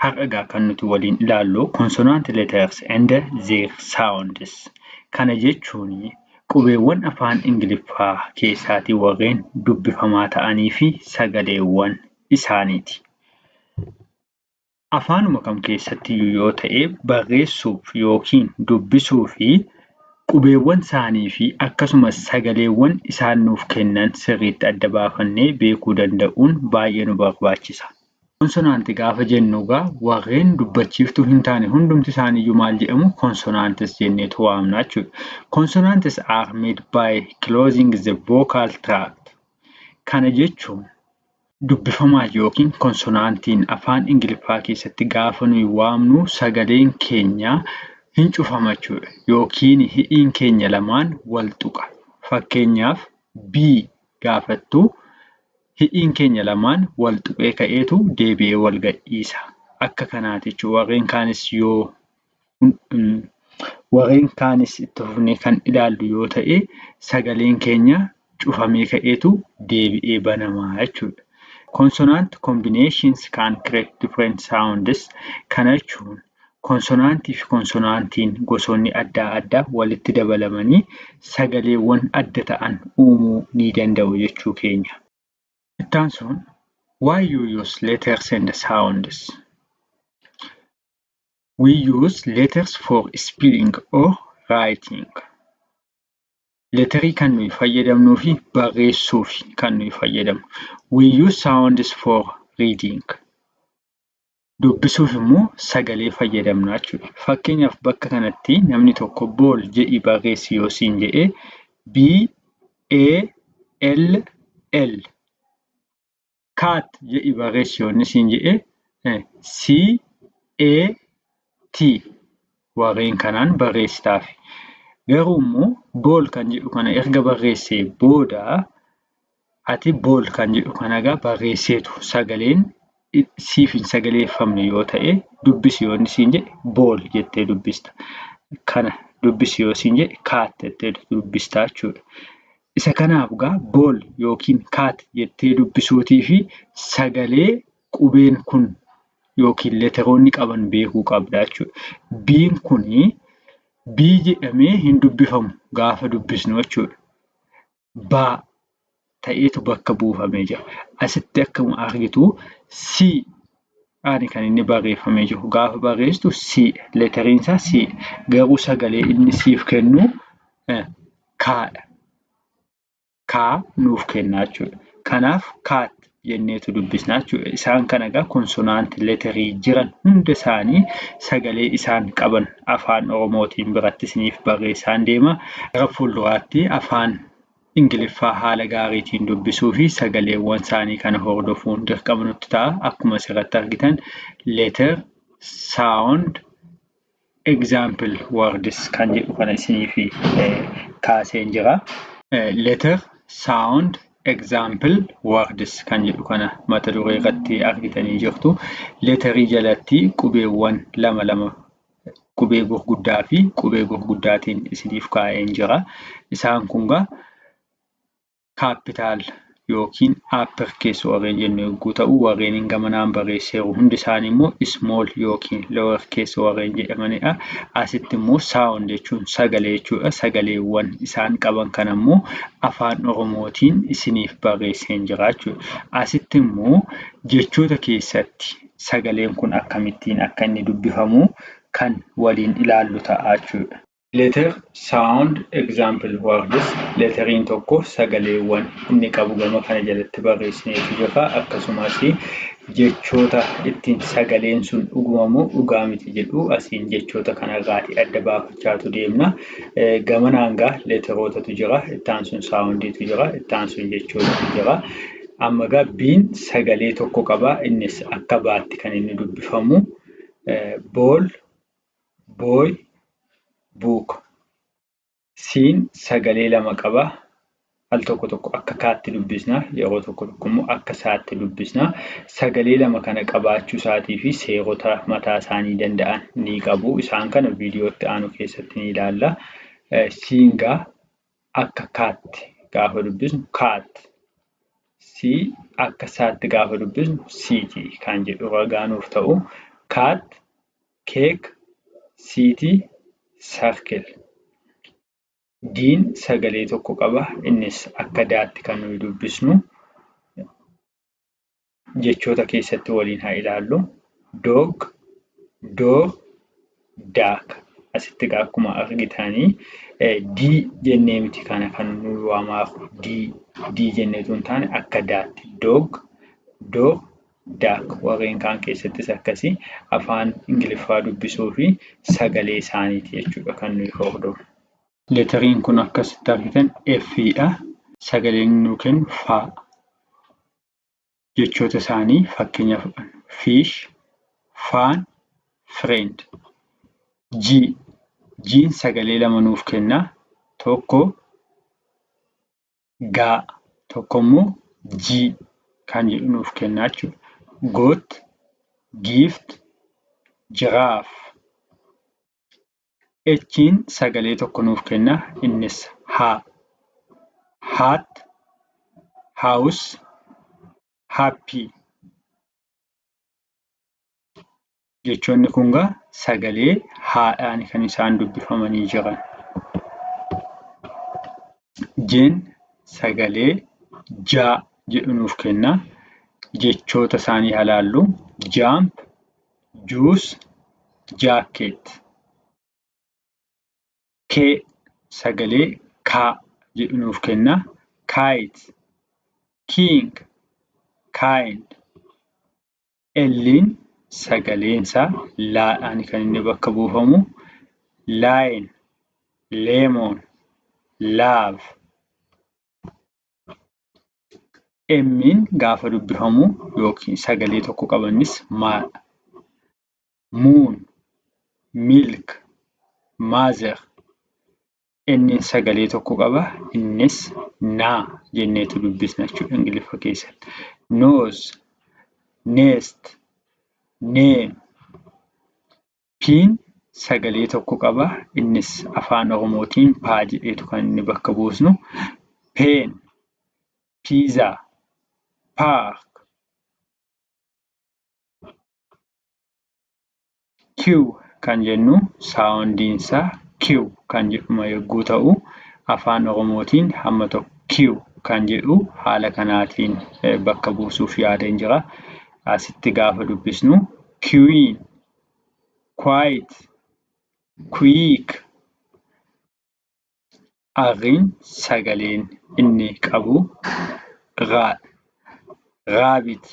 Har'a egaa kan nuti waliin ilaallu consonant letters and their sounds. Kana jechuun qubeewwan afaan Ingiliffaa keessaatii warreen dubbifamaa ta'anii fi sagaleewwan isaaniiti. Afaanuma kam keessatti iyyuu yoo ta'e barreessuuf yookiin dubbisuuf Qubeewwan isaanii fi akkasumas sagaleewwan isaan nuuf kennan sirriitti adda baafannee beekuu danda'uun baay'ee nu barbaachisa. Konsonaanti gaafa jennu egaa warreen dubbachiiftuu hin taane hundumti isaaniiyyuu maal jedhamu? Consonants jenneetu waamna jechuudha. Consonants are made by closing the vocal tract. Kana jechuun Dubbifamaan yookiin konsonaantiin afaan Ingiliffaa keessatti gaafa nuyi waamnu sagaleen keenya hin cufama jechuudha. Yookiin hidhiin keenya lamaan wal tuqa. Fakkeenyaaf B gaafattu hidhiin keenya lamaan wal tuqee ka'eetu deebi'ee wal gadhiisa. Akka kanaati jechuudha. Warreen kaanis yoo Warreen kaanis itti fufnee kan ilaallu yoo ta'e sagaleen keenya cufamee ka'eetu deebi'ee banama jechuudha. Consonant combinations can create different sounds. Kana jechuun konsonaantii fi konsonaantiin gosoonni adda addaa walitti dabalamanii sagaleewwan adda ta'an uumuu ni danda'u jechuu keenya. Itti aansuun why you use letters and sounds. We use letters for spelling or writing. Leetarii kan nuyi fayyadamnuu fi barreessuuf kan nuyi fayyadamnu. We use sounds for reading. Dubbisuuf immoo sagalee fayyadamna jechuudha. Fakkeenyaaf bakka kanatti namni tokko bool jedhii barreessi yoo siin jedhee B A L L kaat jedhi barreessi yoonni siin jedhe C A T warreen kanaan barreessitaaf. Garuu immoo bool kan jedhu kana erga barreessee booda ati bool kan jedhu kana egaa barreesseetu sagaleen siif hin sagaleeffamne yoo ta'e dubbisi yoonni siin jedhe bool jettee dubbista. Kana dubbisi yoo siin jedhe kaat jettee dubbistaa jechuudha. Isa kanaaf egaa ball yookiin cat jettee dubbisuutii fi sagalee qubeen kun yookiin leteroonni qaban beekuu qabda jechuudha. B'n kun B jedhamee hin dubbifamu gaafa dubbisnu jechuudha. Baa ta'eetu bakka buufamee jira. Asitti akkuma argitu C ani kan inni barreeffamee jiru gaafa barreessitu C leteriin isaa C garuu sagalee inni siif kennu kaadha. Kaa nuuf kennaa jechuudha. Kanaaf kaat jenneetu dubbisna jechuudha. Isaan kana egaa konsonaantii leterii jiran hunda isaanii sagalee isaan qaban afaan Oromootiin biratti isiniif barreessaan deema. Gara fuulduraatti afaan Ingiliffaa haala gaariitiin dubbisuu fi sagaleewwan isaanii kana hordofuun dirqama nutti ta'a. Akkuma asirratti argitan letter, sound, Example words kan jedhu kana isiniif kaaseen jira. Letter sound example words kan jedhu kana mata duree irratti argitanii jirtu. Leetarii jalatti qubeewwan lama lama qubee gurguddaa fi qubee gurguddaatiin isiniif kaa'een jira. Isaan kun gaa capital yookiin upper case warreen jennu yogguu ta'u warreen gama naan barreesseeru hundi isaanii immoo small yookiin lower case warreen jedhamanidha. Asitti immoo sound jechuun sagalee jechuudha. Sagaleewwan isaan qaban kana immoo afaan Oromootiin isiniif barreesseen jira jechuudha. Asitti immoo jechoota keessatti sagaleen kun akkamittiin akka inni dubbifamu kan waliin ilaallu ta'a jechuudha. Letter Sound Example Words Leeteriin tokko sagaleewwan inni qabu gama kana jalatti barreessineetu jirra. Akkasumas jechoota ittiin sagaleen sun dhuguma moo dhugaa miti jedhu asiin jechoota kanarraatii adda baafachaatu deemna. Gamanaan gaa leeterootatu jira, ittaan sun saawundiitu jira, ittaan sun jechootatu jira. Amma gaa biin sagalee tokko qaba innis akka baatti kan inni dubbifamu bool boy, book. Siin sagalee lama qaba. Al tokko tokko akka kaatti dubbisna, yeroo tokko tokko immoo akka saatti dubbisna. Sagalee lama kana qabaachuu isaatii fi seerota mataa isaanii danda'an ni qabu. Isaan kana viidiyootti aanu keessatti ni ilaalla. Siingaa akka kaatti gaafa dubbisnu kaatti. Si akka saatti gaafa dubbisnu siiti kan jedhu ragaa nuuf ta'u. Kaatti Keek Siiti Sarkil. Diin sagalee tokko qaba. Innis akka daatti kan nuyi dubbisnu. Jechoota keessatti waliin haa ilaallu. Doog, door, daak. Asitti egaa akkuma argitanii dii jennee miti kana kan nuyi waamaaru. Dii, dii jennee utuu hin taane akka daatti. Doog, door, Dak. Warreen kaan keessattis akkasi. Afaan Ingiliffaa dubbisuu fi sagalee isaaniiti jechuu dha kan nuyi hordofnu. Leeteriin kun akka asitti argitan F dha. Sagaleen inni nuu kennu fa. Jechoota isaanii fakkeenya fudhanna. Fish, faan, friend. G. G'n sagalee lama nuuf kenna. Tokko ga tokko immoo G kan jedhu nuuf kennaa jechuudha. Goat, gift, giraffe. H'n sagalee tokko nuuf kenna innis ha. Hat, house, happy. Jechoonni kun gaa sagalee haadhaan kan isaan dubbifamanii jiran. Jeen sagalee jaa jedhu nuuf kenna. Jechoota isaanii haa laallu. Jaamp, juus, jaakkeet. Kee sagalee kaa jedhu nuuf kenna. Kaayit, kiing, kaayind. L'n sagaleen isaa laadhaan kan inni bakka buufamu. Line, lemon, love. M'in gaafa dubbifamu yookiin sagalee tokko qabannis maadha. Moon, milk, mother. Inni sagalee tokko qaba. Innis na jenneetu dubbisna jechuudha Ingiliffa keessatti. Nose, nest, name. Piin sagalee tokko qaba. Innis afaan Oromootiin paa jedheetu kan inni bakka buusnu. Peen, piizaa, paark. Q kan jennu saawundiin isaa Q kan jedhuma yogguu ta'u, afaan Oromootiin hamma tokko Q kan jedhu haala kanaatiin bakka buusuuf yaadeen jira. Asitti gaafa dubbisnu queen, quite, quick, Aghiin sagaleen inni qabu ghaa dha. Ghaabit,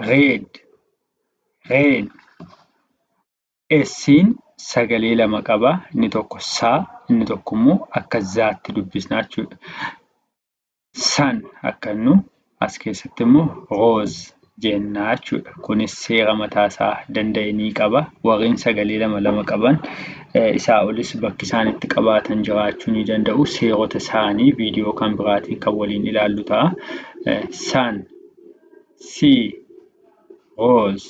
gheed, gheen. Ssin sagalee lama qaba. Inni tokko saa inni tokko immoo akka zaatti dubbisna jechuudha. San akka nu as keessatti immoo rose jenna jechuudha. Kunis seera mataa isaa danda'e ni qaba. Warreen sagalee lama lama qaban isaa olis bakki isaan itti qabaatan jiraachuu ni danda'u. Seerota isaanii viidiyoo kan biraatiin kan waliin ilaallu ta'a. San, si, rose.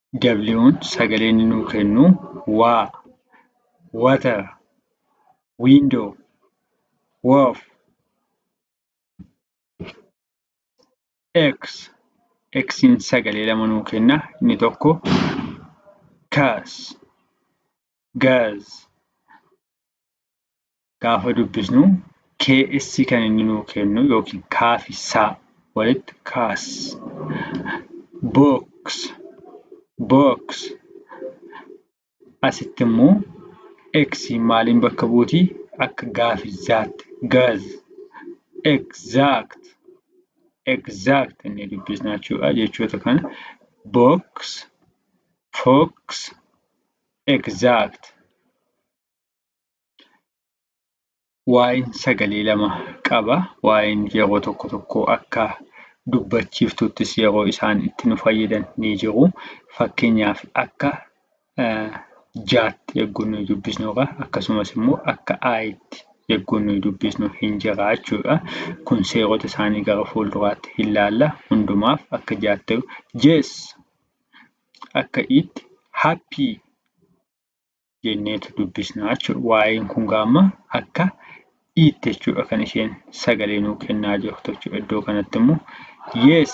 W'n sagalee inni nuu kennu waa, water, window, woof, x, x'n sagalee lama nuu kenna inni tokko kas, gaz, gaafa dubbisnu KS kan inni nuu kennu yookiin kaafi saa walitti kaas. Books books asitti immoo X maaliin bakka buuti akka gaafi zaatti gaz exact exact inni dubbisna jechuudha jechoota kana box fox exact waa'een sagalee lama qaba. Waa'een yeroo tokko tokko akka dubbachiiftuuttis yeroo isaan itti nu fayyadan ni jiru. Fakkeenyaaf akka jaatti yeroo nuyi dubbisnu irra akkasumas immoo akka aayitti yeroo nuyi dubbisnu hin jira jechuudha. Kun seerota isaanii gara fuulduraatti hin laalla. Hundumaaf akka jaatti jees akka itti happy jenneetu dubbisna jechuudha. Waa'een kun gaamma akka iitti jechuudha kan isheen sagalee nuu kennaa jirtu jechuudha. Iddoo kanatti immoo yes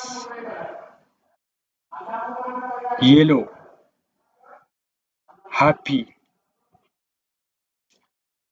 yellow happy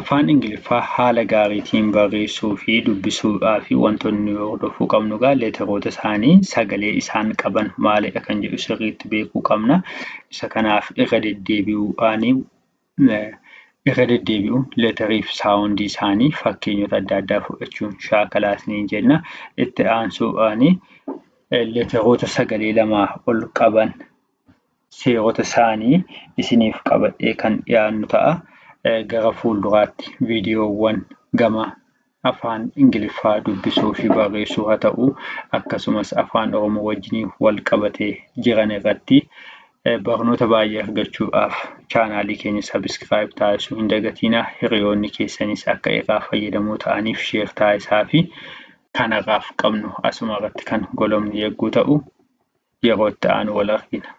Afaan Ingiliffaa haala gaariitiin barreessuu fi dubbisuudhaa fi wantoonni nu hordofuu qabnu egaa leetaroota isaanii sagalee isaan qaban maalidha kan jedhu sirriitti beekuu qabna. Isa kanaaf irra deddeebi'uudhaanii irra deddeebi'uun leetarii fi saawundii isaanii fakkeenyota adda addaa fudhachuun shaakalaa isiniin jenna. Itti aansuudhaan leetaroota sagalee lamaa ol qaban seerota isaanii isiniif qabadhee kan dhiyaannu ta'a. Gara fuulduraatti viidiyoowwan gama afaan ingiliffaa dubbisuu fi barreessuu haa ta'u akkasumas afaan oromoo wajjiniin wal qabatee jiran irratti barnoota baay'ee argachuudhaaf chaanaalii keenya sabiskiraayib taasisuu hin dagatiinaa hiriyoonni keessanis akka irraa fayyadamoo ta'aniif sheer taasisaa fi kanarraaf qabnu asuma irratti kan golomni yegguu ta'u yeroo itti aanu wal argina.